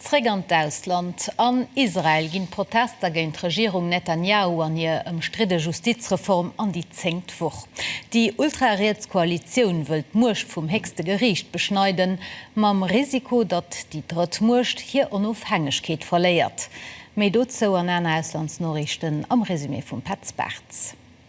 Zréck an d'Ausland, An Israel ginn d'Protester géint d'Regierung Netanjahu an hir ëmstridde Justizreform an déi zéngt Woch. Déi ultrariets Koalitioun wëll d'Muecht vum héchste Geriicht beschneiden, mam Risiko, datt déi drëtt Muecht hir Onofhängegkeet verléiert. Méi dozou an aner Auslandsnoriichten am Resumé vum Petz Bartz.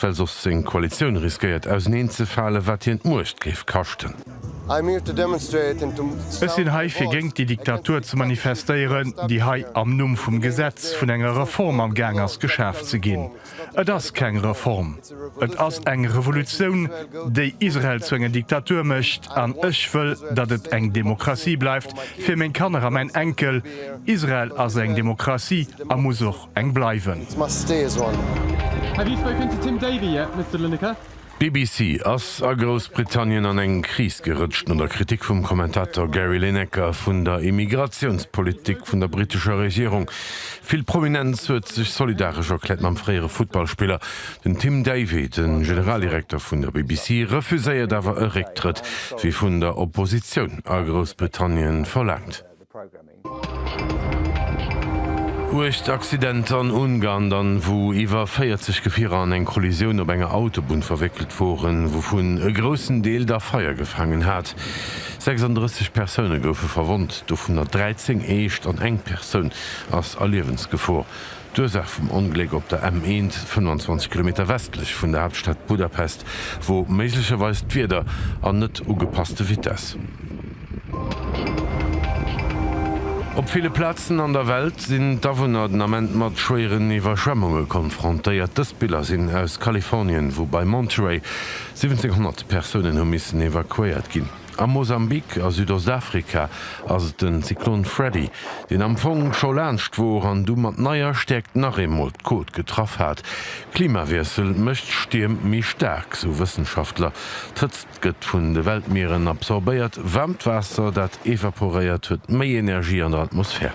Well soss seng Koalitioun riskéiert auserneen ze falen, wat hien d'Muecht géif kaschten. Ech sinn hei fir géint déi Diktatur ze manifestéieren, déi hei am Numm vum Gesetz vun enger Reform am Gaang ass geschaf ze ginn. Et ass keng Reform, et ass eng Revolutioun, déi Israel zu enger Diktatur mécht. An ech wëll, datt et eng Demokratie bleift fir meng Kanner a mäin Enkel. Israel ass eng Demokratie a muss och eng bleiwen. D'BBC ass a Groussbritannien an eng Kris gerëtscht no der Kritik vum Kommentator Gary Lineker vun der Immigratiounspolitik vun der brittescher Regierung. Vill Prominenz huet sech solidaresch erkläert mam fréiere Futtballspiller. Den Tim Davie, de Generaldirekter vun der BBC, refuséiert awer e Récktrëtt, wéi vun der Oppositioun a Groussbritannien verlaangt. Uecht Accidenter an Ungarn dann, wou iwwer 40 Gefierer an eng Kollisioun op enger Autobunn verwéckelt woren, wouvun e groussen Deel da Feier gefaangen hat. 36 Persoune goufe verwonnt, dovunner 13 eescht an eng Persoun ass a Liewensgefor. D'Ursaach vum Ongléck op der M 1, 25 Kilometer westlech vun der Haaptstad Budapest, wor méiglecherweis d'Wieder an net ugepasste Vitesse. Op ville Plazen an der Welt sinn d'Awunner den Ament mat schwéieren Iwwerschwemmunge konfrontéiert. Dës Biller sinn aus Kalifornien, wou bei Monterey 1700 Persounen hu missen evakuéiert ginn. A Mosambik a Südostafrika ass et den Zyklon Freddy, deen am Fong scho laanscht wor an du mat neier Stäerkt nach eemol d'Côte getraff hat. Klimawiessel mécht Stierm méi staark, sou Wëssenschaftler. D'Hëtzt gëtt vun de Weltmieren absorbéiert, waarmt Waasser, dat evaporéiert, huet méi Energie an der Atmosphär.